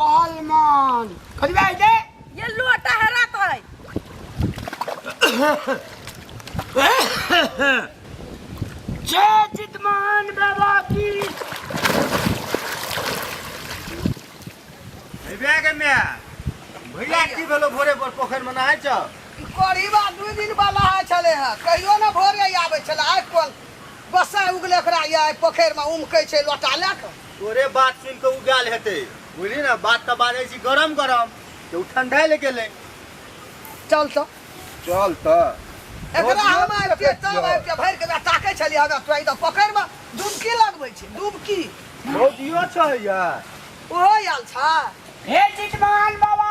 पहलमान खजबे है जे ये लोटा हरा तो है जय चितमान बाबा की भैया के मैं भैया की भेलो भोरे पर पोखर में नहाय छ गरीब आदमी दिन वाला है छले है कहियो ना भोरे आवे छले आइ कोल बसा उगले ओकरा ये पोखर में उमके छै लोटा लेके तोरे बात सुन के उगाल हेते बुझली ना बात तो बाजे छी गरम गरम तो उ ठंडा ले गेले चल तो चल तो एकरा हम आबि के तब आबि के भरि के ला ताकै छलियै हमरा तोरा ई तऽ पोखरिमे डुबकी लगबै छै डुबकी भौजियो छै या ओहो आयल छा हे चितमान बाबा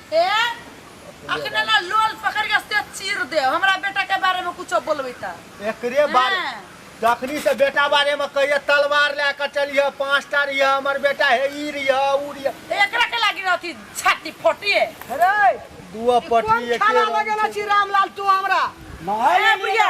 ए अखने ना लोल पकड़ के से चीर दे हमरा बेटा के बारे में कुछ बोलबे त एकरे बारे हाँ। जखनी से बेटा बारे में कहिए तलवार ले कर चलिए पांच टा रहिए हमर बेटा हे ई रहिए ऊ रहिए एकरा के लागी रहती छाती फटिए अरे दुआ ई पटी कोन एके खाना रंग लगेला से। छी रामलाल तू हमरा ए बुढ़िया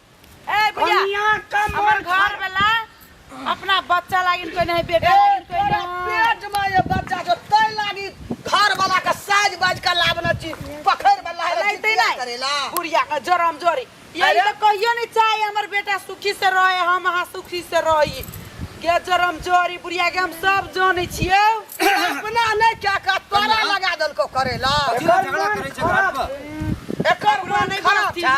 ए भैया कनिया का हमर मोर घर वाला अपना बच्चा लागिन कोई नहीं बेटा लागिन कोई तोरा नहीं पेट में ये बच्चा जो तै लागी घर वाला के साज बाज के लावना ची पखर में लाए लाइते लाइते नहीं। करेला बुढ़िया का जरम जोरी ये अरे। तो कहियो नहीं चाहे हमर बेटा सुखी से रहे हम अहाँ सुखी से रही गे जरम जोरी बुढ़िया के हम सब जाने छियो अपना नहीं क्या का तोरा लगा दल को करेला एकर मन खराब एकर पूरा मन नहीं खराब बनती। था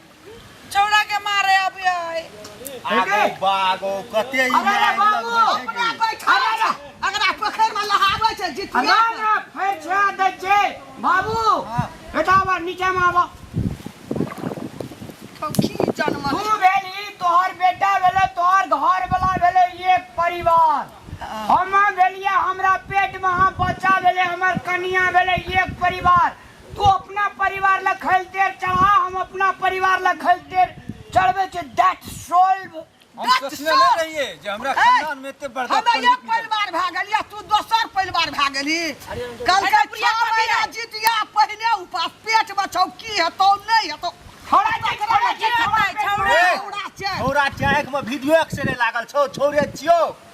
छौड़ा के मारे अभी आए आगो बागो कते ई अरे आगो बाबू, लगबै छै कि? बैठा जा। अगरा पोखरि में लहाबै छै जितिया ना के। ना फेर छा दै छै बाबू हाँ। बेटा आबा नीचे में आबा कौखी जन्म तू भेली तोहर बेटा भेले तोहर घर वाला भेले एक परिवार हम भेलिए हमरा पेट में हम बच्चा भेले हमर कन्या भेले एक परिवार तू अपना परिवार ला खैल तेल चढ़ा हम अपना परिवार ला खैल तेल चढ़बे छै दैट सोल्व हम गट सोचने सोच। नहीं रहिए जे हमरा है। खानदान में एते बड़का हमे पंडित एक निकल परिवार भए गेल या तू दोसर परिवार भए गेली कल के प्रिया छह महीना कबीरा। जितिया पहिने उपास पेट बचाउ की हेतौ नहि हेतौ हमरा जे हमरा जे हमरा जे- छौड़ा छै। छौरा चाहे के वीडियो एक्सरे लागल छौ छौरे छियो